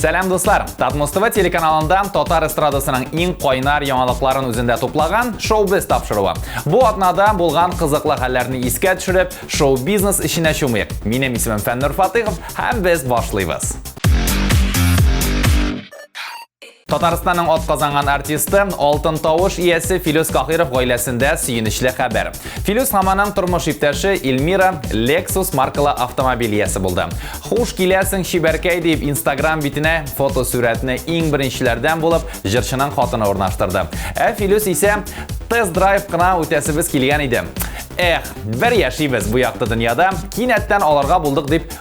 Сәлам дуслар! Татмус ТВ телеканалында татар эстрадасының иң кайнар яңалыкларын үзендә туплаган шоу-без тапшыруы. Бу атнада булган кызыклы хәлләрне искә төшереп, шоу-бизнес эченә чумыйк. Минем исемем Фәннур Фатыйхов һәм без башлыйбыз. Татарстанның атказанган артисты, алтын тавыш иясе Филүс Кахиров гаиләсендә сөенечле хәбәр. Филүс һәм аның тормыш иптәше Эльмира Lexus маркалы автомобиль иясе булды. Хуш киләсең, чибәркәй дип Instagram битенә фотосурәтне иң беренчеләрдән булып җырчының хатыны урнаштырды. Ә Филүс исә тест-драйв кына үтәсебез килгән иде. Эх, бер яшибез бу якты дөньяда, кинәттән аларга булдык дип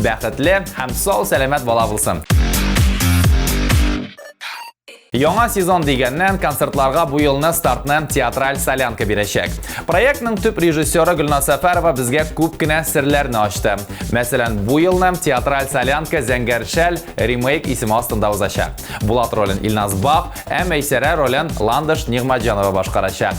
Бәхетле һәм сау-сәламәт бала булсын! Яңа сезон дигәннән концертларга бу елны стартны театраль солянка бирәчәк. Проектның төп режиссеры Гөлназ Сәфәрова безгә күп кенә серләрне ачты. Мәсәлән, бу елны театраль солянка Зәңгәр шәл ремейк исеме астында узачак. Булат ролен Илназ Бак, ә Мәйсәрә ролен Ландыш Нигъмәтҗанова башкарачак.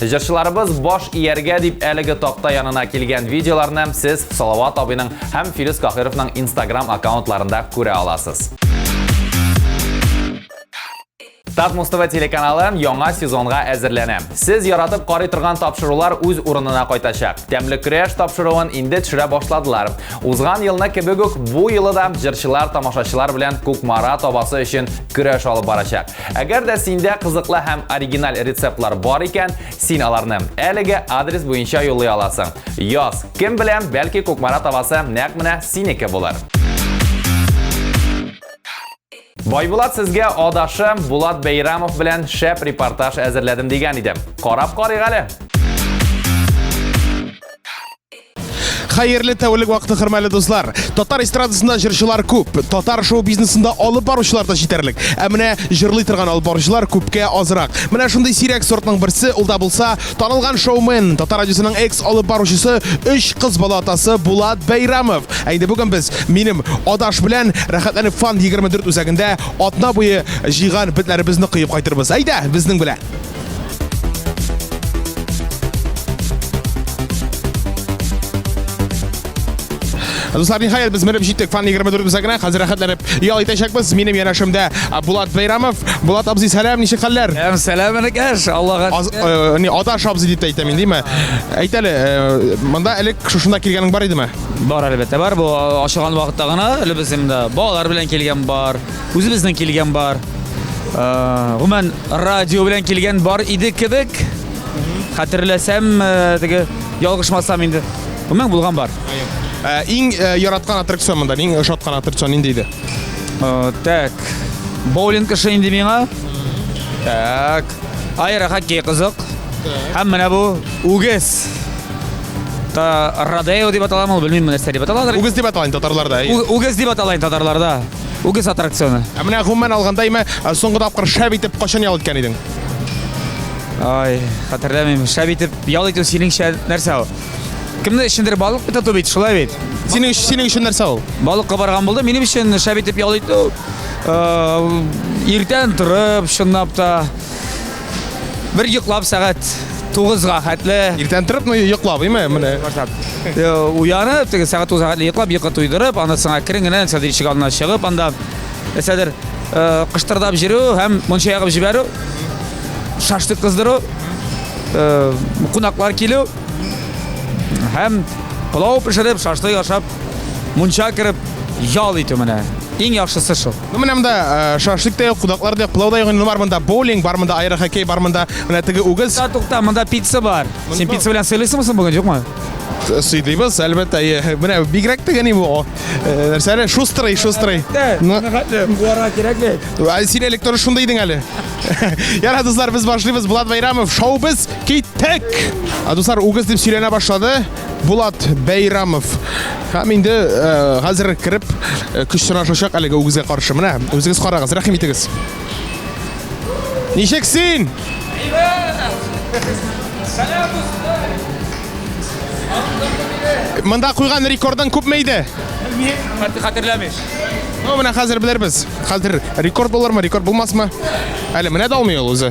Җырчыларыбыз баш ияргә дип әлеге такта янына килгән видеоларны сез Салават абыйның һәм Филүс Каһировның Instagram аккаунтларында күрә аласыз. Татмус ТВ телеканалы яңа сезонга әзерләнә. Сез яратып карый торган тапшырулар үз урынына кайтачак. Тәмле көрәш тапшыруын инде төшерә башладылар. Узган елны кебек үк бу елы да җырчылар тамашачылар белән Кукмара табасы өчен көрәш алып барачак. Әгәр дә синдә кызыклы һәм оригиналь рецептлар бар икән, син аларны әлеге адрес буенча юллый аласың. Яз, кем белә, бәлки Кукмара табасы нәкъ менә синеке булыр. Байбулат сезгә адашы Булат Бәйрамов белән шәп репортаж әзерләдем дигән иде. Карап карыйк әле. Хәерле тәүлек вакыты хөрмәле дуслар. Татар эстрадасында җырчылар күп, татар шоу бизнесында алып баручылар да җитәрлек. Ә менә җырлый торган алып баручылар күпкә азрак. Менә шундый сирәк сортның берсе, ул да булса, танылган шоумен, Татар радиосының экс алып баручысы, өч кыз бала атасы Булат Бәйрамов. Ә инде бүген без минем Адаш белән Рәхәтләнеп Фан 24 үзәгендә атна буе җыйган бетләребезне коеп кайтырбыз. Әйдә, безнең белән! Дуслар, нихаят без менеп җиттек фан 24 үзәгенә. Хәзер рәхәтләнеп ял итәчәкбез. Минем янәшемдә Булат Бәйрамов. Булат абзый, сәлам, ничек хәлләр? Әм сәлам энекәш, Аллага. Э, не Аташ абзый дип әйтә мин, диме? Әйт әле, э, монда элек шушында килгәнең бар идеме? Бар әлбәттә, бар. Бу ашыган вакытта гына элебез инде. Балалар белән килгән бар, үзебезнең килгән бар. Гомән радио белән килгән бар иде кебек. Хәтерләсәм, теге ялгышмасам инде. Гомән булган бар. Ә, иң ә, яраткан аттракцион монда, иң ошаткан аттракцион нинди иде? Ә, так. Боулинг эше инде миңа. Так. Айра хоккей кызык. Һәм менә бу үгез. Та Радео дип аталам ул, белмим нәрсә дип аталадыр. Үгез дип аталайын татарларда. Үгез дип аталайын татарларда. Үгез аттракционы. Ә менә гомумән алганда имә ә, соңгы тапкыр шәп итеп качан ял иткән идең? Ай, хәтерләмим. Шәп итеп ял итү синеңчә нәрсә ул? Кемне эчендер балык бит тоту бит, шулай бит. Синең өчен синең өчен нәрсә ул? Балыкка барган булды. Минем өчен шәп итеп ял итү. э, Иртән торып, чынлап та, Бер йоклап сәгать 9-га хәтле. Иртән торып, ну йоклап, име, менә. Э, уянып, теге сәгать 9-га хәтле йоклап, йокы туйдырып, аны сыңа керен генә Сәдер ишек алдына чыгып, анда э, Сәдер э, кыштырдап җөрү һәм монча ягып җибәрү, шашлык кыздыру, кунаклар килү һәм пылау пешереп, шашлык ашап, монча кереп ял итү менә. Иң яхшысы шул. Ну менә монда э, шашлык та юк, кунаклар да юк, пылау да юк. Инде бар монда боулинг, бар монда аэрохоккей, бар монда менә теге үгез. Тукта, тукта, монда пицца бар. Син пицца белән сыйлыйсыңмы соң бүген, юкмы? Сыйлыйбыз, әлбәттә. Э, Менә бигрәк дигән бу. о, э, Нәрсә әле? Шустрый, шустрый. Ну, Буара кирәк бит. а Син элек торыш шунда идең әле. Яра, дуслар, без башлыйбыз. Булат Байрамов, шоу без киттек. А дуслар, үгез дип сөйләнә башлады. Булат Бәйрамов һәм инде хәзер кереп көч сынашачак әлеге үгезгә каршы. Менә үзегез карагыз, рәхим итегез. Ничек син? Монда куйган рекордың күпме иде? Хәтер хәтерләмим. Ну, менә хәзер белербез. Хәзер рекорд булырмы, рекорд булмасмы? Әле менә дә алмый ул үзе.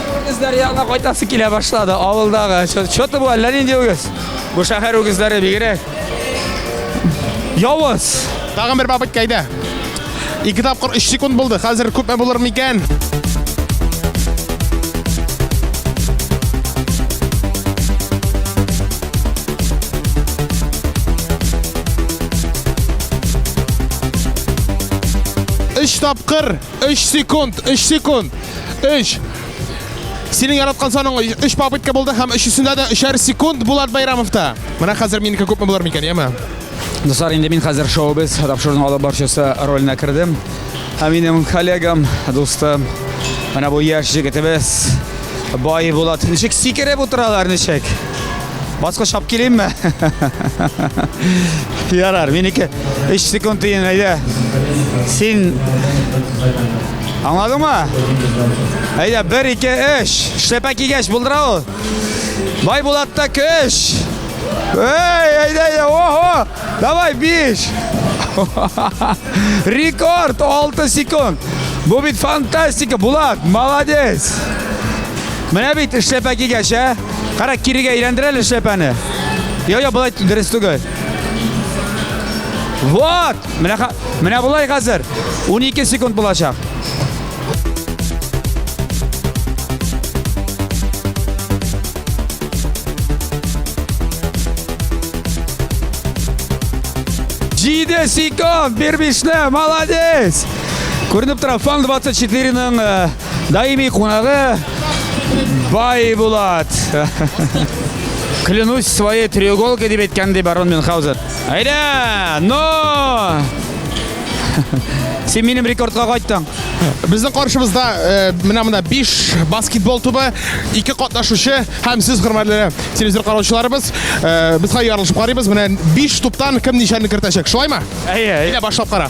Үгезләр янына кайтасы килә башлады. Авылдагы. Чоты бу әллә нинди үгез. Бу шәһәр үгезләре бигрәк. Явыз. Тагын бер бабык кайда? Ике тапкыр 3 секунд булды. Хәзер күпме булыр микән? Өч тапкыр 3 секунд, 3 секунд. 3. Синең яраткан саның 3 попытка булды һәм өчесендә дә 3 секунд Булат Байрамовта. Менә хәзер минеке күпме булыр микән, яме? Дуслар, инде мин хәзер шоу без тапшыруның алып барчысы роленә кердем. Ә минем коллегам, дустым, менә бу яшь җегетебез Бай Булат. Ничек сикереп утыралар, ничек? Баскыч алып килеймме? Ярар, минеке 3 секунд дейін, әйдә. Син... Аңладың ма? Әйдә, 1, 2, 3. Шлепә кигәш, булдыра ул. Бай Булатта көш. Эй, әйдә, әйдә, ого! Давай, 5. Рекорд, 6 секунд. Бу бит фантастика, Булат, молодец. Менә бит эшләпә кигәч, ә? Кара, кирегә әйләндер әле шәпәне. Йо, йо, болай дөрес түгел. Вот! Менә, менә болай хәзер. 12 секунд булачак. Җиде секунд, бер бишле, молодец! Күренеп тора, фан 24-ның Даими кунагы Бай Булат. Клянусь своей треуголкой дип әйткән ди барон Мюнхгаузен. Әйдә, но! Син минем рекордка кайттың. Безнең каршыбызда э, менә монда 5 баскетбол тубы, 2 катнашучы һәм сез хөрмәтле телевизор караучыларыбыз. Э, без хәзер ярылышып карыйбыз. Менә 5 туптан кем ничәне кертәчәк. Шулаймы? Әйе, әйе. Әйдә башлап кара.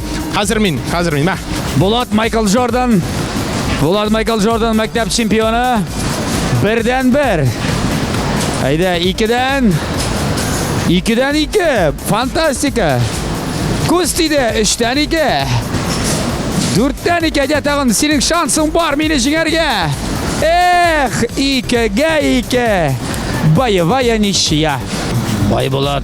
Хәзер мин, хәзер мин, мә. Булат Майкл Джордан. Булат Майкл Джордан мәктәп чемпионы. Бердән бер. Әйдә, икедән. Икедән ике. Фантастика. Күз тиде, өчтән ике. Дүрттән ике, әйдә тагын, синең шансың бар мине җиңәргә. Эх, икегә ике. Боевая ничья. Байбулат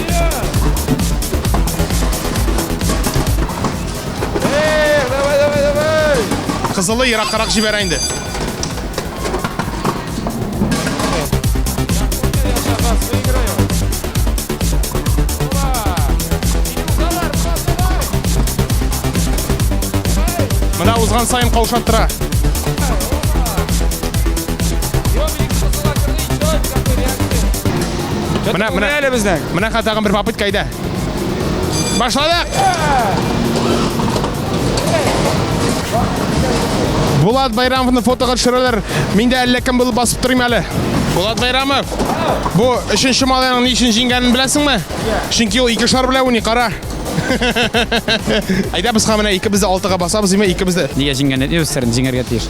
Кызылы ераккарак җибәрә инде. Менә узган сайын каушаттыра. Менә, менә әле безнең. Менә хәзер тагын бер попытка иде. Башладык. Булат Байрамовны фотога төшерәләр. Мин дә әллә кем булып басып торыйм әле. Булат Байрамов. Бу өченче малайның ни өчен җиңгәнен беләсеңме? Чөнки ул ике шар белән уйный, кара. Әйдә без хәменә икебез дә алтыга басабыз, име икебез дә. Нигә җиңгән дип өстерен җиңәргә тиеш.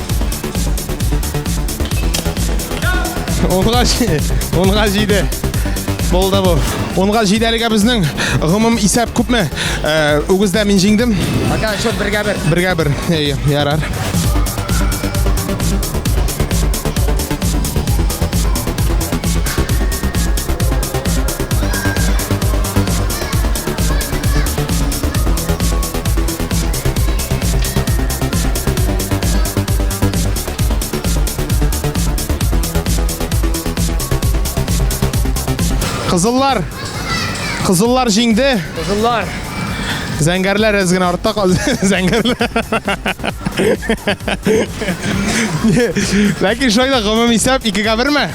Онга, онга җиде. Болды бу. Онга җиде әлегә безнең гомум исәп күпме? Э, Үгездә мин җиңдем. Пока счет бергә бер. Бергә бер. Әйе, ярар. Кызыллар. Кызыллар җиңде. Кызыллар. Зәңгәрләр әз генә артта калды. Зәңгәрләр. Ләкин шулай да гомум исәп 2-гә 1ме?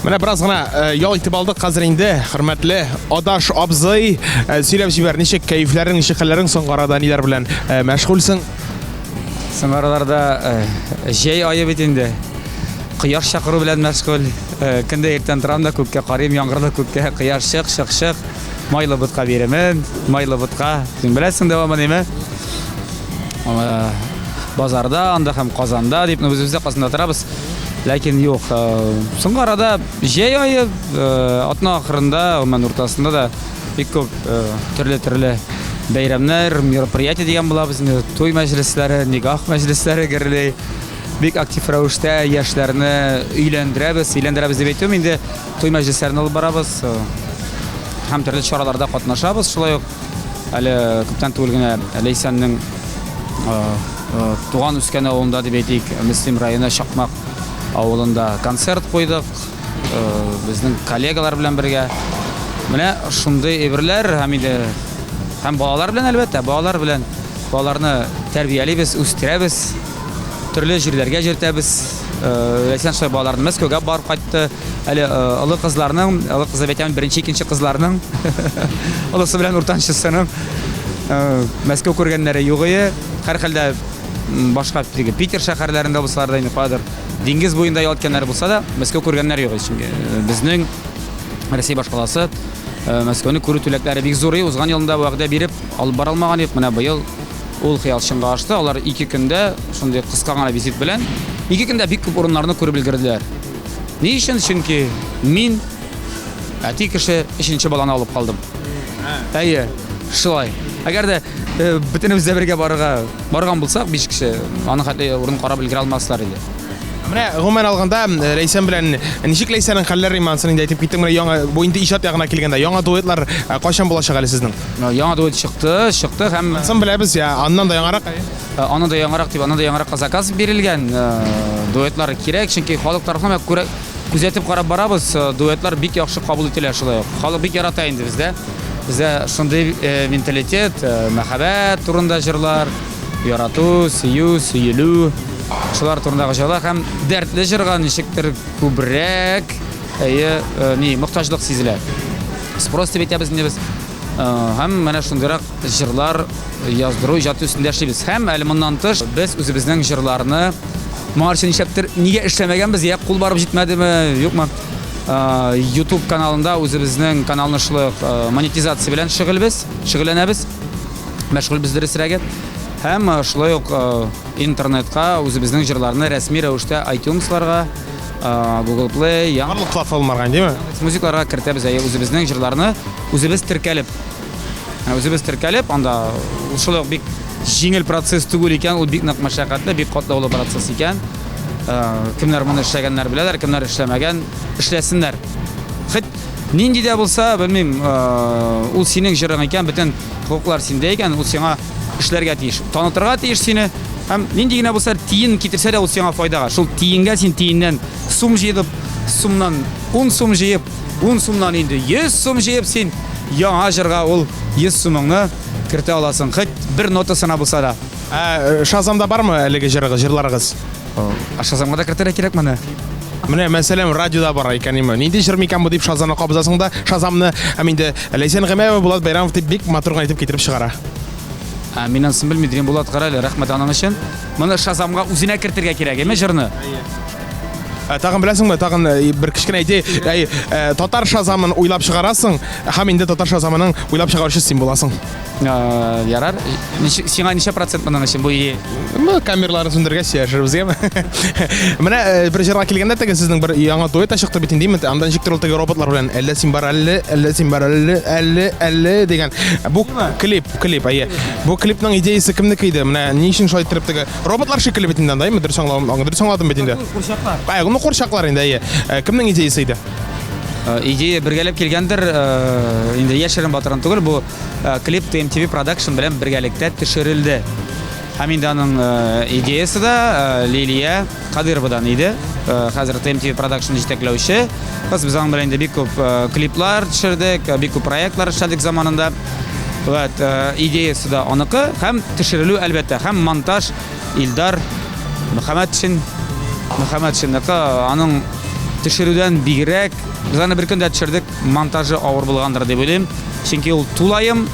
Менә бераз гына э, ял итеп алдык хәзер инде. Хөрмәтле Адаш абзый, э, сөйләп җибәр, ничек кәефләрең, ничек хәлләрең соңгы арада ниләр белән э, мәшгульсең? Соңгы араларда җәй айы бит инде. Кояш чакыру белән мәшгуль. Көндә иртән торам да күккә карыйм, яңгырлы күккә, кояш чык, чык, чык. Майлы ботка бирәмен, майлы ботка. Син беләсең дәвамы ниме? Базарда, анда һәм Казанда дип, без үзебездә Казанда торабыз. Ләкин юк. Соңгы арада җәй ае, атна ахырында, гомумән уртасында да бик күп төрле-төрле бәйрәмнәр, мероприятие дигән була безне, туй мәҗлесләре, никах мәҗлесләре гөрли. Бик актив рәвештә яшьләрне өйләндерәбез, өйләндерәбез дип әйтүем инде, Туй мәҗлесләрен алып барабыз һәм төрле чараларда катнашабыз. Шулай ук әле күптән түгел генә Ләйсәннең туган үскән авылында дип әйтик, Мөслим районы Чакмак авылында концерт куйдык. Безнең коллегалар белән бергә. Менә шундый әйберләр һәм инде һәм балалар белән әлбәттә, балалар белән балаларны тәрбиялибез, үстерәбез. Төрле җирләргә җөртәбез. Ләйсән Шай балаларны Мәскәүгә барып кайтты. Әле олы кызларның, олы кызы әйтәм, беренче, икенче кызларның, олысы белән уртанчысының Мәскәү күргәннәре югые. Һәрхәлдә башка теге Питер шәһәрләрендә булсалар да инде кадер диңгез буенда ял иткәннәре булса да, Мәскәү күргәннәре юк. Чөнки безнең Россия башкаласы Мәскәүне күрү теләкләре бик зурый. Узган елны да вәгъдә биреп, алып бара алмаган идек. Менә быел Ул хыял чынга ашты. Алар ике көндә шундый кыска гына визит белән ике көндә бик күп урыннарны күреп өлгерделәр. Ни өчен? Чөнки мин әти кеше өченче баланы алып калдым. Әйе, шулай. Әгәр дә э, бөтенебез дә бергә барырга барган булсак, биш кеше, аны хәтле урын карап өлгерә алмаслар иде. Менә гомумән алганда Ләйсән белән ничек Ләйсәнең хәлләре имансын инде әйтеп киттең. Менә яңа бу инде иҗат ягына килгәндә яңа дуэтлар кайчан булачак әле сезнең? Яңа дуэт чыкты, чыкты һәм Сон беләбез, я аннан да яңарак. Аны да яңарак дип, аны да яңарак заказ бирелгән. Дуэтлар кирәк, чөнки халык тарафыннан бик күрә күзәтеп карап барабыз, дуэтлар бик яхшы кабул ителә шулай ук. Халык бик ярата инде бездә. Бездә шундый менталитет, мәхәббәт турында җырлар. Ярату, сөю, сөелү, шулар турындагы җырлар һәм дәртле җырга ничектер күбрәк әйе, э, ни, мохтаҗлык сизелә. Спрос дип әйтәбез инде без. Э, һәм менә шундыйрак җырлар яздыру иҗат өстендә эшлибез. Һәм әле моннан тыш без үзебезнең җырларны моңарчы нишләптер нигә эшләмәгәнбез, я кул барып җитмәдеме, юкмы? Э, YouTube каналында үзебезнең каналны шулай монетизация белән шөгыльбез, шөгыльләнәбез. мәшгульбез дөресрәге һәм шулай ук интернетка үзебезнең җырларны рәсми рәвештә айтюнсларга Google Play, яңа барлык платформаларга димме? Музыкаларга кертәбез, әйе, үзебезнең җырларны үзебез теркәлеп. Үзебез теркәлеп, анда шулай ук бик җиңел процесс түгел икән, ул бик нык мәшәкатьле, бик катлаулы процесс икән. Кемнәр моны эшләгәннәр беләләр, кемнәр эшләмәгән, эшләсеннәр. Хит нинди дә булса, белмим, ул синең җырың икән, бөтен Хокуклар синдә икән, ул сиңа эшләргә тиеш. Танытырга тиеш сине. Һәм нинди генә булса тиен китерсә дә ул сиңа файдага. Шул тиенгә син тиеннән сум җыеп, сумнан 10 сум җыеп, 10 сумнан инде 100 сум җыеп син яңа җырга ул 100 сумыңны кертә аласың. Хәт бер нотасына булса да. Ә э, Шазамда бармы әлеге җырыгыз, җырларыгыз? Ә Шазамга да кертергә кирәк моны. Менә мәсәлән радиода бара икән име. Нинди җыр микән бу дип Шазамны кабызасың да, Шазамны һәм инде Ләйсән Гамәева Булат Байрамов дип бик матур гына итеп китереп чыгара. Ә, мин анысын белмим, дигән Булат Карале, рәхмәт аның өчен. Моны Шазамга үзенә кертергә кирәк, әйме җырны? Ә, Тагын беләсеңме, тагын э, бер кечкенә идея, әй, э, татар Шазамын уйлап чыгарасың һәм инде татар Шазамының уйлап чыгаручысы син буласың. Э, ярар сиңа ничә процент моның өчен бу идея ну камерларны сүндергәч сөйләшербез яме менә э, бер җырга килгәндә теге сезнең бер яңа дуэт чыкты бит инде инде анда ничек теге роботлар белән әллә син бар әлле әллә син бар әлле әлле әлле дигән бу клип клип әйе бу клипның идеясы кемнеке иде менә ни өчен шулай иттереп теге роботлар шикелле бит инде анда әйме дөрес аңладым дөрес аңладым бит инде курчаклар ну курчаклар инде әйе э, кемнең идеясы иде Э, идея бергәләп килгәндер э, инде яшерен батырын түгел бу э, клип tmtv продакшн белән бергәлектә төшерелде һәм инде аның идеясы да лилия кадыровадан иде хәзер tmtv продакшн җитәкләүче кыз без аның белән инде бик күп клиплар төшердек бик күп проектлар эшләдек заманында вот идеясы да аныкы һәм төшерелү әлбәттә һәм монтаж Илдар Мөхәммәтшин, Мөхәммәтшинныкы, аның төшерүдән бигрәк, без аны бер көндә төшердек, монтажы авыр булгандыр дип уйлыйм, чөнки ул тулаем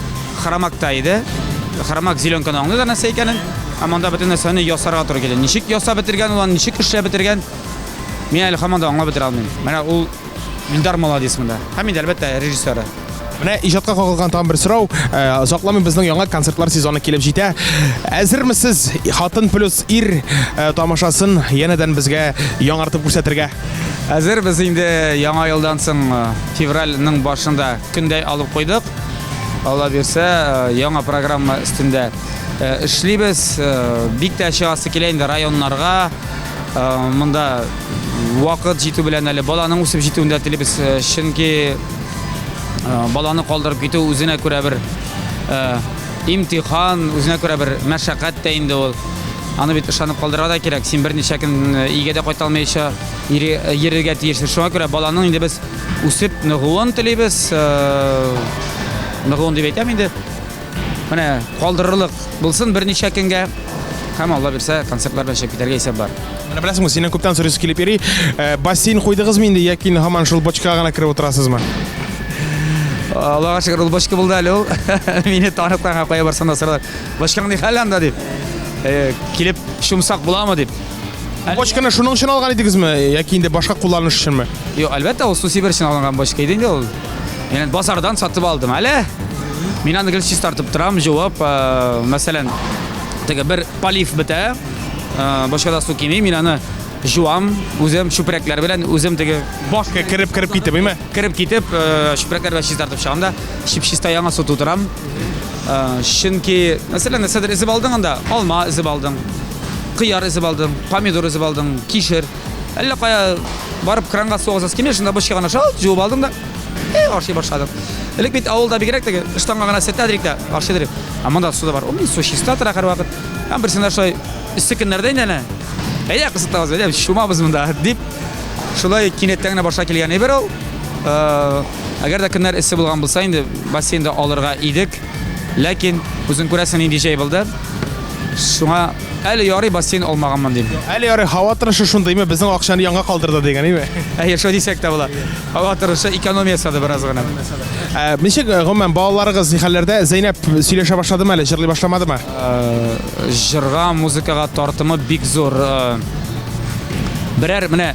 хромакта иде. Хромак зеленканы аңлый да нәрсә икәнен, ә монда бөтен нәрсәне ясарга туры килде. Ничек ясап бетергән, улан ничек эшләп бетергән, мин әле һаман да аңлап бетерә алмыйм. Менә ул Илдар молодец монда. Һәм инде әлбәттә режиссеры. Менә иҗатка кагылган тагын бер сорау. Э, Озакламый безнең яңа концертлар сезоны килеп җитә. Әзермесез Хатын плюс ир э, тамашасын янәдән безгә яңартып күрсәтергә? Әзер без инде яңа елдан соң э, февральның башында көндәй алып куйдык. Алла бирсә, яңа программа өстендә эшлибез. Бик тә чыгасы килә инде районнарга. Монда вакыт җитү белән әле баланың үсеп җитүендә телибез, чөнки баланы калдырып китү үзенә күрә бер имтихан, үзенә күрә бер мәшәкать тә инде ул. Аны бит ышанып калдырырга да кирәк. Син берничә көн өйгә дә кайта алмыйча йөрергә тиешсең. Шуңа күрә баланың инде без үсеп ныгуын телибез. Ныгуын дип әйтәм инде. Менә калдырырлык булсын берничә көнгә. Һәм Алла бирсә, концертлар белән чыгып китәргә исәп бар. Менә беләсеңме, синнән күптән сорыйсы килеп йөри. Э, бассейн куйдыгызмы инде яки һаман шул бочкага гына кереп утырасызмы? Аллага шөкер, ул бочка булды әле ул. Мине танып кайга кая барсам да сорыйлар. Бочкаң ни хәл анда дип. Э, килеп шумсак буламы дип. Бочканы шуның өчен алган идегезме яки инде башка кулланыш өченме? Юк, әлбәттә, ул су сибер өчен алынган бочка иде инде ул. Яны базардан сатып алдым әле. Мин аны гел чистартып торам, җуып, э, мәсәлән, теге бер полив бетә, э, башка да су кими, мин аны җуам, үзем чүпрәкләр белән, үзем теге Башка кереп кереп китеп, име? кереп китеп, э, чүпрәкләр белән чистартып чыгам да, чип-чиста яңа су тутырам. Э, Чөнки, мәсәлән, нәрсәдер эзеп алдың анда, алма эзеп алдың, кыяр эзеп алдың, помидор эзеп алдың, кишер. Әллә кая барып кранга су аласыз килмеш, шунда бушка гына шалт җуып алдым да, э, ашый башладым. Элек бит авылда бигрәк теге штанга гына сертәдрик тә ашый дирек. Ә монда су да бар. Ул су чиста тора һәрвакыт. Һәм берсендә шулай өсте көннәрдә инде әнә. Әйдә кызытабыз, әйдә шумабыз монда дип шулай кинәттән генә башка килгән әйбер ул. Э, әгәр дә көннәр эссе булган булса инде бассейнда алырга идек. Ләкин, үзең күрәсең, нинди җәй булды. Шуңа әле ярый бассейн алмаганмын дим. Әле ярый һава торышы шундыймы, безнең акчаны янга калдырды дигәнеме? Әйе, шулай дисәк тә була. Һава торышы экономия ясады бераз гына. Ә, Ничек, э, гомумән, балаларыгыз ни хәлләрдә? Зәйнәп сөйләшә башладымы әле, җырлый башламадымы? Җырга, музыкага тартымы бик зур. Э, Берәр менә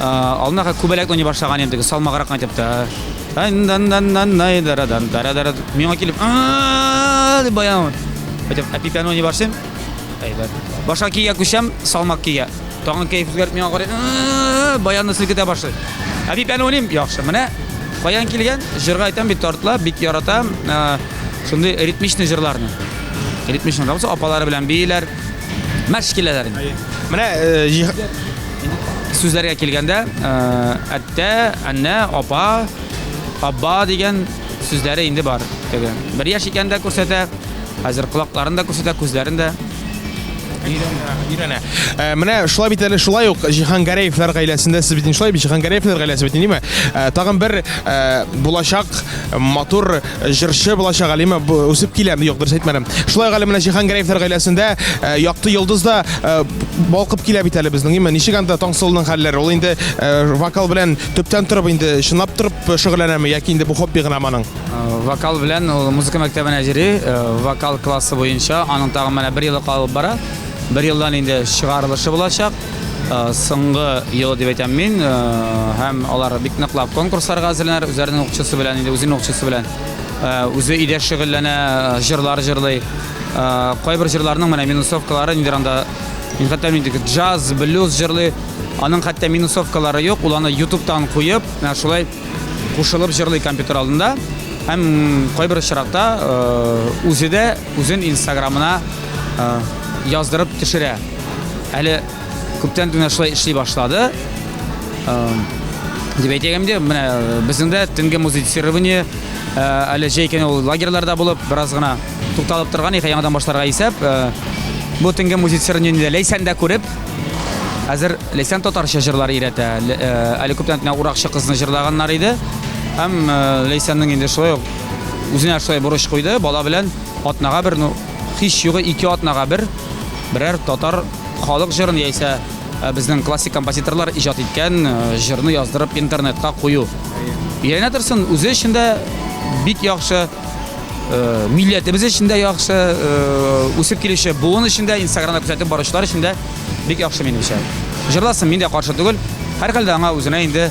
Алдынака күбәләк уйный башлаган идем, салмаграк айтып та. Миңа килеп, дип баян. Айтып, әпипән уйный башлыйм. Әйбәт. Башка кия күчәм, салмак кия. Тагын кәеф үзгәрт миңа карый. Баянны селкетә башлый. Әпипән уйныйм, яхшы. Менә каян килгән? Җырга айтам бит тартла, бик яратам. Шундый ритмичный җырларны. Ритмичный, апалары белән бииләр. Мәш киләләр инде. Менә сүзләргә килгәндә, әттә, әннә, апа, абба дигән сүзләре инде бар. Теге бер яшь икән дә күрсәтә, хәзер колакларын да күрсәтә, күзләрен дә. Өйрәнә. Э, менә шулай бит әле шулай ук Җиһангәрәевләр гаиләсендә сез бит шулай бит Җиһангәрәевләр гаиләсе бит ниме? Э, тагын бер э, булачак матур Җырчы булачак Алима үсеп килә. Юк, дөрес әйтмәдем. Шулай ук әле менә Җиһан Гәрәевләр гаиләсендә э, якты йолдыз да э, балкып килә бит әле безнең. Именно ничек анда Таңсылуның хәлләре? Ул инде э, вокал белән төптән торып инде чынлап торып шөгыльләнәме яки инде бу хобби гына моның? Вокал белән ул музыка мәктәбенә йөри, вокал классы буенча аның тагын менә бер елы калып бара. Бер елдан инде чыгарылышы булачак. Э, соңгы елы дип әйтәм мин э, һәм алар бик ныклап конкурсларга әзерләнәләр үзләренең укчысы белән инде үзенең укчысы белән э, үзе өйдә шөгыльләнә җырлар җырлый кайбер җырларның менә минусовкалары нидер анда мин хәтта мин джаз блюз җырлый аның хәтта минусовкалары юк ул аны ютубтан куеп менә шулай кушылып җырлый компьютер алдында һәм кайбер очракта үзе дә Үзен инстаграмына яздырып төшерә. Әле күптән генә шулай эшли башлады. Дип әйтәгем дә, менә безнең дә төнге музицирование әле җәй көне ул лагерьларда булып, бераз гына тукталып торган иде, яңадан башларга исәп. Бу төнге музицирование Ләйсән дә күреп, хәзер Ләйсән татарча җырлар өйрәтә. Әле күптән генә Уракчы кызны җырлаганнар иде. Һәм Ләйсәннең инде шулай ук Үзенә шулай бурыч куйды, бала белән атнага бер, ну, һич югы ике атнага бер берәр татар халык җырын яисә э, безнең классик композиторлар иҗат иткән э, җырны яздырып интернетка кую. Өйрәнә торсын, үзе өчен дә бик яхшы, э, милләтебез өчен дә яхшы, э, үсеп килүче буын өчен дә, Инстаграмда күрсәтеп баручылар өчен дә бик яхшы минемчә. Җырласын, мин дә каршы түгел. Һәрхәлдә аңа үзенә инде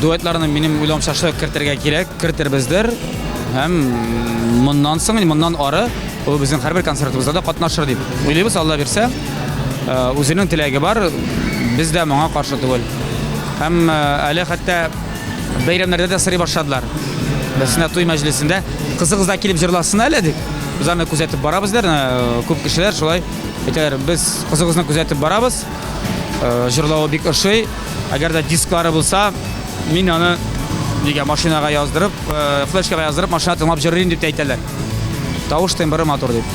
Дуэтларны минем уйлауча шулай кертергә кирәк, кертербездер. Һәм моннан соң, моннан ары ул безнең һәрбер концертыбызда да катнашыр дип уйлыйбыз, Алла бирсә. Үзенең теләге бар, без дә моңа каршы түгел. Һәм әле хәтта бәйрәмнәрдә дә сырый башладылар. Берсенә туй мәҗлесендә кызыгыз да килеп җырласын әле дип, без аны күзәтеп барабыз дә, күп кешеләр шулай әйтәләр, без кызыгызны күзәтеп барабыз. Җырлавы бик ошый. Әгәр дә дисклары булса, мин аны нигә машинага яздырып, флешкага яздырып, машина тыңлап җырлыйм дип әйтәләр. Тавыш тембры матур дип.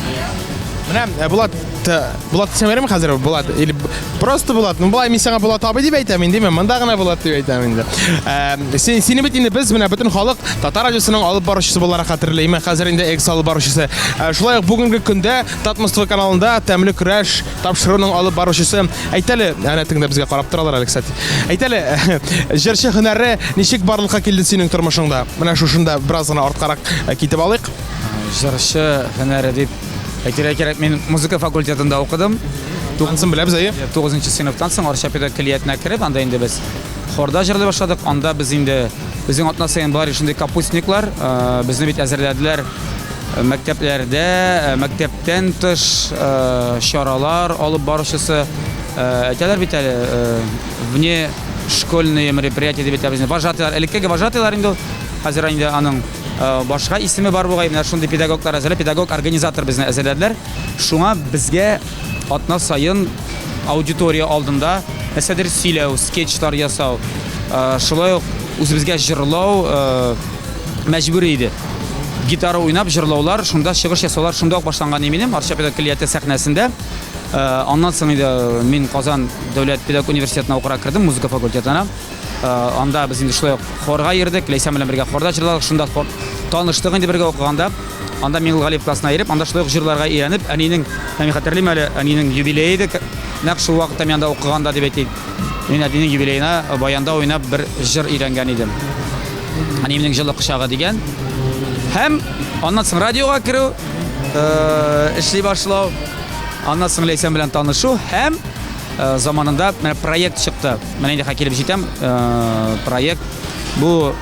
Менә э, Булат э, Булат дисәм ярыймы хәзер Булат или просто Булат ну болай мин сиңа Булат абый дип әйтәм инде мен монда гына Булат дип әйтәм инде э, син сине бит инде без менә бөтен халык татар радиосының алып баручысы буларак хәтерләйме хәзер инде экс алып баручысы шулай ук бүгенге көндә татмоство каналында тәмле көрәш Тапшыруның алып баручысы. Әйт әле, әнә тыңда безгә карап торалар әле, кстати. Әйт әле, җырчы һөнәре ничек барлыкка килде синең тормышыңда? Менә шушында бераз гына арткарак э, китеп алыйк. Җырчы һөнәре дип әйтергә кирәк, мин музыка факультетында укыдым. Тугызын беләбез, әйе? 9 нчы сыйныфтан соң Арча педагог көллиятенә кереп, анда инде без хорда җырлый башладык. Анда без инде безнең атна саен бар шундый капустниклар, э, безне бит әзерләделәр Мәктәпләрдә, мәктәптән тыш чаралар алып баручысы, әйтәләр бит әле, вне школьные мероприятия дип әйтәбез. Вожатыйлар, элеккеге вожатыйлар инде ул. Хәзер инде аның башка исеме бар бугай, менә шундый педагоглар әзерләп, педагог-организатор безне әзерләделәр. Шуңа безгә атна саен аудитория алдында нәрсәдер сөйләү, скетчлар ясау, шулай ук үзебезгә җырлау, мәҗбүри иде. Гитара уйнап, җырлаулар, шунда чыгыш ясаулар шунда ук башланган иде минем Арча педагог көллияте сәхнәсендә. Э, аннан соң инде э, мин Казан дәүләт педагог университетына укырга кердем, музыка факультетына. Э, анда без инде шулай ук хорга йөрдек, Ләйсән белән бергә хорда җырладык, шунда хор таныштык инде бергә укыганда. Анда Миңгул Галиев классына йөреп, анда шулай ук җырларга өйрәнеп, әнинең, мин хәтерлим әле, әнинең юбилее иде. Нәкъ шул вакытта мин анда укыганда дип әйтик. Мин әтинең юбилеена баянда уйнап бер җыр өйрәнгән идем. Әниемнең җылы кочагы дигән. Һәм аннан соң радиога керү, э, эшли башлау, аннан соң Ләйсән белән танышу һәм э, заманында менә проект чыкты. Менә инде килеп җитәм, э, проект бу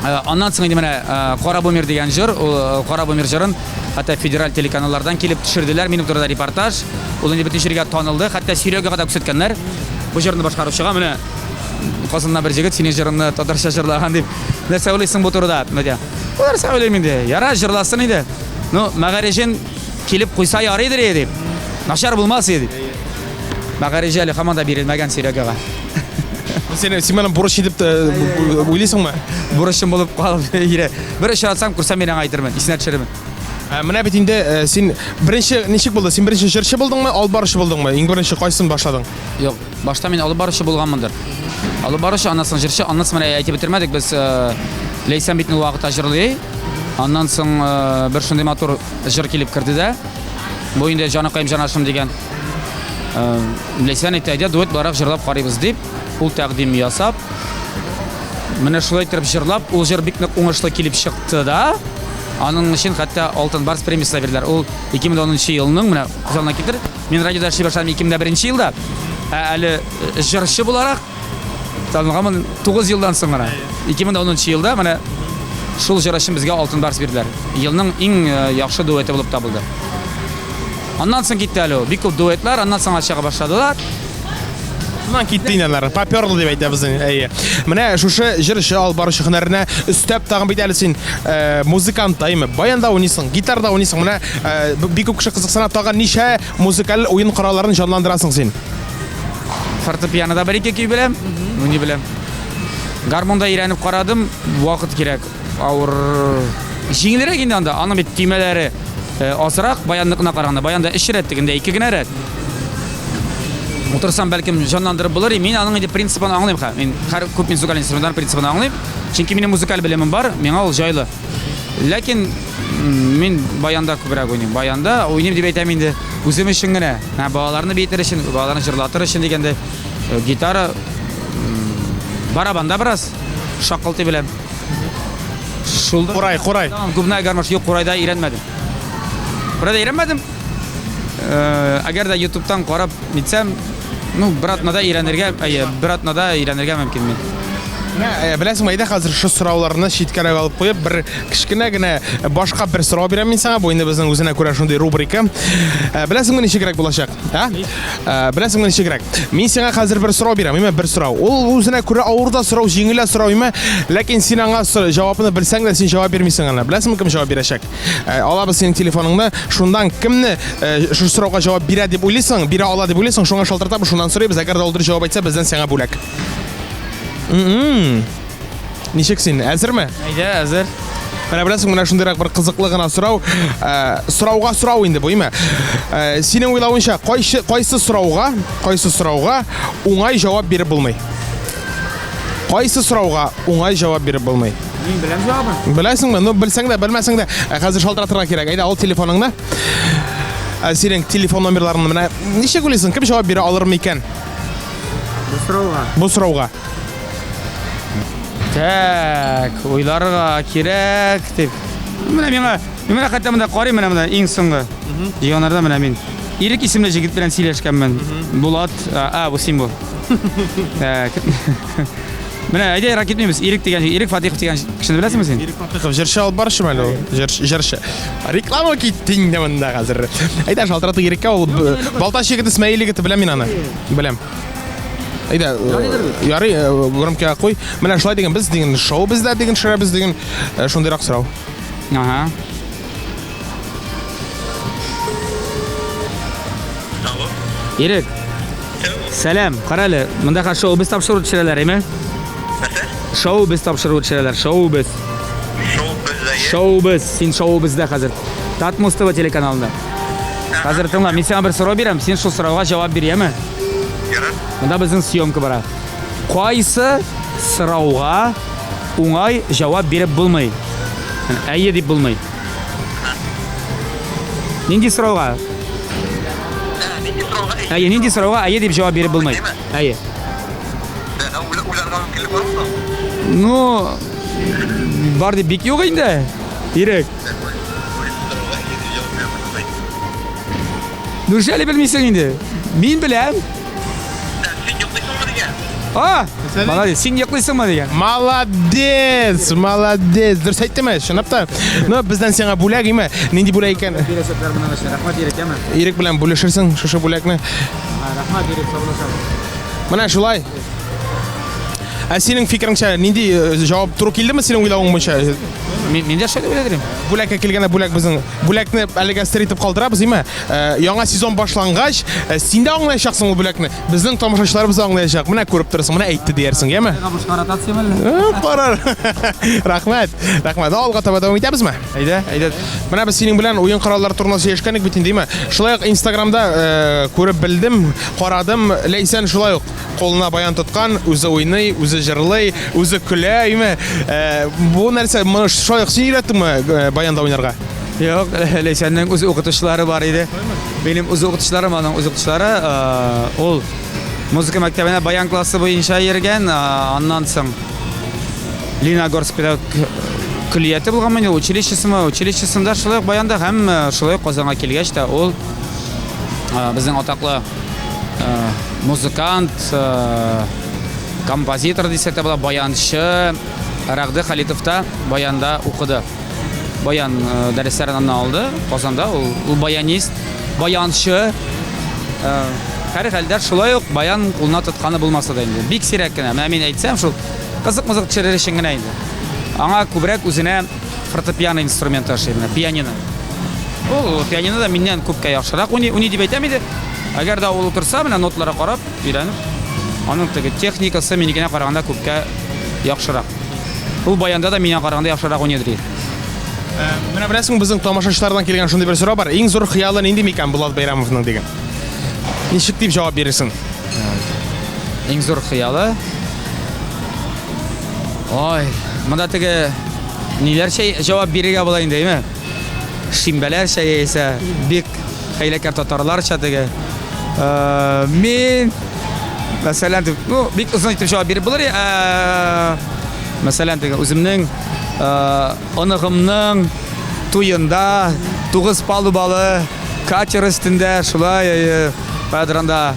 Э, аннан соң инде менә э, кара бумер дигән җыр э, кара бумер җырын хәтта федераль телеканаллардан килеп төшерделәр минем турында репортаж ул инде бөтен җиргә танылды хәтта сөйләүгә кадәр күрсәткәннәр бу җырны башкаручыга менә казанда бер җегет синең җырыңны татарча җырлаган дип нәрсә уйлыйсың бу турыда медиа бу нәрсә уйлыйм инде яра җырласын иде ну мәгарәҗен килеп куйса ярыйдыр дип начар булмас иде мәгарәҗе әле һаман да бирелмәгән сөйләүгә Сен син менә бурыч итеп уйлыйсыңмы? Бурычым булып калып ире. Бер эш атсам, күрсәм мин аңа әйтермен, исенә төшерермен. Ә менә бит инде э, син беренче ничек булды? Син беренче җырчы булдыңмы, алып баручы булдыңмы? Иң беренче кайсын башладың? Юк, башта мин алып баручы булганмындыр. Алып баручы, аннан соң җырчы, аннан соң менә әйтеп бетермәдек без э, Ләйсән бит вакытта җырлый. Аннан соң э, бер шундый матур җыр килеп керде дә. Бу инде җаныкаем җанашым дигән. Э, Ләйсән әйтә, әйдә дуэтлырак җырлап карыйбыз, дип, ул тәкъдим ясап, менә шулай итеп җырлап, ул җыр бик нык уңышлы килеп чыкты да, аның өчен хәтта Алтын барс премиясе бирделәр. Ул 2010 елның, менә күз алдына китер, мин радиода эшли башладым 2001 елда, ә әле җырчы буларак, Танылганмын 9 елдан соң гына. 2010 елда менә шул җыр өчен безгә алтын барс бирделәр. Елның иң э, яхшы дуэты булып табылды. Аннан соң китте әле ул. Бик күп дуэтлар, аннан соң чыга башладылар. Аннан китте инде алар. Поперлы дип әйтәбез инде. Әйе. Менә шушы җыр өчен алып баручы һөнәренә өстәп тагын бит әле син э, музыкант таймы? Баянда уйныйсың, гитарда уйныйсың. Менә э, б- бик күп кеше кызыксына тагын ничә Музыкаль уен коралларын җанландырасың син. Фортепианода бер ике көй беләм, уйный беләм. Гармонда өйрәнеп карадым, вакыт кирәк. Авыр җиңелрәк инде анда, аның бит төймәләре э, азрак, баянныкына караганда. Баянда өч рәт дигәндә ике генә рәт. Утырсам, бәлкем җанландырып булыр. Мин аның инде принцибын аңлыйм ха. Мин һәр күп музыкаль инструментлар принцибын аңлыйм. Чөнки минем музыкаль белемем бар, миңа ул җайлы. Ләкин Мин баянда күбрәк уйныйм. Баянда уйныйм дип әйтәм инде. Үзем өчен генә. Ә балаларны биетер өчен, балаларны җырлатыр өчен дигәндә э, гитара барабанда бераз шакылты белән. Шул Курай, курай. Губная гармош юк, курайда өйрәнмәдем. Курайда өйрәнмәдем. Э, әгәр дә ютубтан карап Нитсәм, ну, бер атнада өйрәнергә, әйе, бер атнада өйрәнергә мөмкин мин. Ә, Беләсең, әйдә хәзер шу сорауларны читкәрәк алып куеп, бер кечкенә генә башка бер сорау бирәм мин сиңа. Бу инде безнең үзенә күрә шундый рубрика. Ә, Беләсеңме ничегрәк булачак? А? Ә, Беләсеңме ничегрәк? Мин сиңа хәзер бер сорау бирәм, имә бер сорау. Ул үзенә күрә авыр да сорау, җиңел дә сорау имә, ләкин син аңа сор- җавабын белсәң дә син җавап бирмисең аны. Беләсеңме кем җавап бирәчәк? Э, алабыз синең телефоныңны шундан кемне э, шушы сорауга җавап бирә дип уйлыйсың бирә ала дип уйлыйсың шуңа шалтыратабыз шуннан сорыйбыз әгәр дә ул дөрес җавап әйтсә бездән сиңа бүләк ничек син әзерме әйдә әзер менә беләсең менә шундыйрак бер кызыклы гына сорау э, сорауга сорау инде бу име синең уйлавыңча кайсы кайсы сорауга кайсы сорауга уңай җавап биреп булмый кайсы сорауга уңай җавап биреп булмый Мин беләм җавабын. Беләсеңме? Ну, белсәң дә, белмәсәң дә, ә хәзер шалтыратырга кирәк. Әйдә, ал телефоныңны. Ә синең телефон номерларын менә ничек уйлыйсың, кем җавап бирә алыр микән? Бу сорауга. Бу сорауга. Так, уйларга кирәк дип. Менә миңа, миңа хәтта монда карый менә монда иң соңгы. Җыйганнарда менә мин. Ирек исемле җегет белән сөйләшкәнмен. Булат, а, бу син бу. Так. Менә әйдә ерак китмибез. Ирек дигән җир- Ирек Фатихов дигән кешене беләсеңме син? Ирек Фатыхов җырчы алып бар шимәле ул. Җырчы, җырчы. Реклама китте инде монда хәзер. Әйдә шалтырату Иреккә ул б- Балтач егете, Смәел егете беләм мин аны. Беләм. Әйдә, э, ярый, э, громкига куй. Менә шулай дигән без дигән шоу бездә дигән шәрә без дигән э, шундыйрак сорау. Ага. Ирек. Сәлам, карале, монда хәзер шоу без тапшыру төшерәләр, әйме? Нәрсә? Шоу без тапшыру төшерәләр, шоу без. Шоу бездә. Шоу без, син шоу бездә хәзер. Татмус ТВ телеканалында. Хәзер тыңла, мин сиңа бер сорау бирәм, син шул сорауга җавап бир, яме? Ярар. Монда безнең съемка бара. Кайсы сорауга уңай җавап биреп булмый? Әйе дип булмый. Нинди сорауга? Нинди сорауга? Әйе, нинди сорауга әйе дип җавап биреп булмый. Әйе. Уйларга мөмкинлек бармы? Ну, бар дип бик юк инде. Ирек. Дүршәле белмисең инде. Мин беләм. Син йоклыйсыңмы дигән? А! Молодец. Син йоклыйсыңмы дигән. Молодец! Молодец! Дөрес әйттеме? Чынлап та. Ну, бездән сиңа бүләк име? Нинди бүләк икән? Бирәчәкләр менә нәрсә. Рәхмәт Ирек, яме. Ирек белән бүлешерсең шушы бүләкне. Рәхмәт Ирек, саулашам. Менә шулай. Ә синең фикереңчә нинди э, җавап туры килдеме синең уйлавың буенча? Мин мин дә шулай уйлыйм. Бүләккә килгәндә бүләк безнең бүләкне әлегә сер итеп калдырабыз, име? Э, яңа сезон башлангач, э, син дә аңлаячаксың ул бүләкне. Безнең тамашачыларыбыз да аңлаячак. Менә күреп торасың, менә әйтте диярсең, яме? Э, карар. Рәхмәт. Рәхмәт. Алга таба дәвам итәбезме? Әйдә, әйдә. Менә без синең белән уен кораллары турында сөйләшкән идек бит инде, яме? Шулай ук Инстаграмда күреп белдем, карадым, ләйсән шулай ук. кулына баян тоткан, үзе уйный, үзе җырлый, үзе көлә, әйме? Э, бу нәрсә, моны шулай ук син өйрәттеңме э, баянда уйнарга? Юк, Ләйсәннең үз укытучылары бар иде. Минем үз укытучыларым, аның үз укытучылары, э, ул музыка мәктәбенә баян классы буенча йөргән, э, аннан соң Лениногорск педагог көллияте булган мени, училищесымы, училищесында шулай ук баянда һәм э, шулай ук Казанга килгәч тә ул э, безнең атаклы Э, музыкант, э, композитор дисәк тә була, баянчы Рәгъде Халитов та баянда укыды. Баян э, дәресләрен аннан алды Казанда. Ул, ул баянист, баянчы. Һәр хәлдә шулай ук баян кулына тотканы булмаса да инде. Бик сирәк кенә. Менә мин әйтсәм, шул кызык-мызык төшерер өчен генә инде. Аңа күбрәк үзенә фортепиано инструменты ошый менә пианино ул пианино да миннән күпкә яхшырак уйный уйный дип әйтәм иде әгәр дә ул утырса менә ноталарга карап өйрәнеп аның теге техникасы минекенә караганда күпкә яхшырак ул баянда да миңа караганда яхшырак уйный ди э, менә беләсең безнең тамашачылардан килгән шундый бер сорау бар иң зур хыялы нинди микән булат бәйрәмовның диген ничек дип җавап бирерсең иң зур хыялы Ой, монда теге ниләрчә җавап бирергә була инде, әйме? Шимбәләрчә яисә бик хәйләкәр татарларча теге. Э, мин мәсәлән, дип, ну, бик озын итеп җавап биреп булыр. Э, мәсәлән, теге үземнең э, оныгымның туенда тугыз палубалы катер өстендә шулай э, кадранда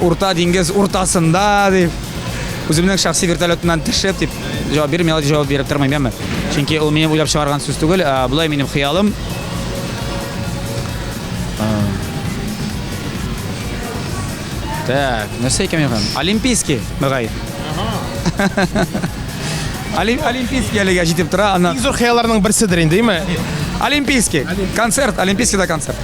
Урта диңгез уртасында дип үземнең шәхси вертолетымнан төшеп дип җавап бирмим, ял җавап биреп тормыйм, яме. Чөнки ул минем уйлап чыгарган сүз түгел, ә болай минем хыялым. Так, нәрсә икән мин? Олимпийский, мөгаен. Олимпийский әлегә җитеп тора, ана. Иң зур хыялларның берседер инде, әйме? Олимпийский. Концерт, Олимпийскийда концерт.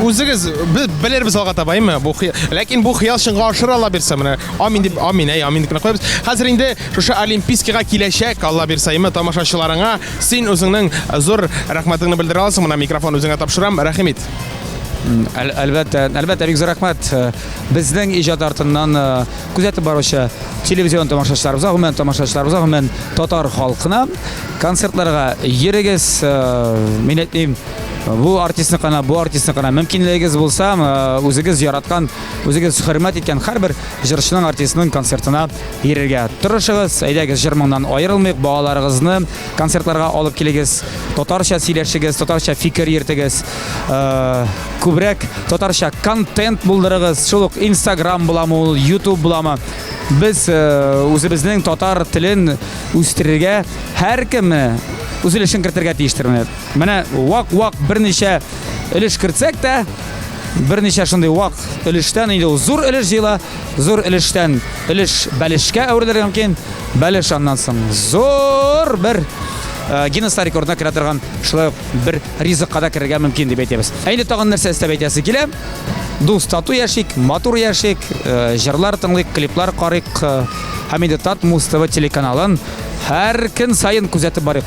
Үзегез без белербез алга табаймы бу хыял. Ләкин бу хыял чынга ашырыла бирсә менә. Амин дип, амин, әй, амин дип кенә куябыз. Хәзер инде шушы Олимпийскига киләчәк, Алла бирсә, имә тамашачыларыңа син үзеңнең зур рәхмәтеңне белдерә аласың. Менә микрофон үзеңә тапшырам. Рәхим ит. Әл, әлбәттә, әлбәттә, бик зур рәхмәт. Э, Безнең иҗат артыннан э, күзәтеп баручы телевизион тамашачыларыбызга, гомумән тамашачыларыбызга, гомумән татар халкына концертларга йөрегез, э, мин әйтмим, бу артистны кына бу артистны кына мөмкинлегегез булса үзегез яраткан үзегез хөрмәт иткән һәрбер җырчының артистның концертына йөрергә тырышыгыз әйдәгез җыр моңнан аерылмыйк балаларыгызны концертларга алып килегез татарча сөйләшегез татарча фикер йөртегез күбрәк татарча контент булдырыгыз шул ук инстаграм буламы ул ютуб буламы без үзебезнең татар телен үстерергә һәркемне үз өлешен кертергә тиештермени Менә вак-вак берничә өлеш кертсәк тә, берничә шундый вак өлештән инде ул зур өлеш җыела, зур өлештән өлеш бәлешкә әверелергә мөмкин, бәлеш аннан соң зур бер э, Гиннесста рекордына керә торган шулай ук бер ризыкка да керергә мөмкин дип әйтәбез. Ә инде тагын нәрсә эстәп әйтәсе килә? Дус тату яшик, матур яшик, э, җырлар тыңлыйк, клиплар карыйк э, һәм инде Татмус ТВ телеканалын һәр көн саен күзәтеп барыйк.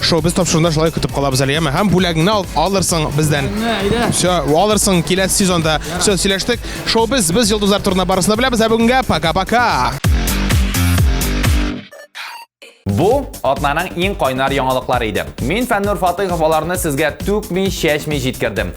Шоу без тапшырында шулай көтеп калабыз әле, яме. Һәм бүләгеңне ал, алырсың бездән. Все, алырсың киләсе сезонда. Все, сөйләштек. Шоу без, без йолдызлар турында барысын да беләбез, ә бүгенгә пока-пока. Бу атнаның иң кайнар яңалыклары иде. Мин Фәннур Фатыйхов аларны сезгә түкми, чәчми җиткердем.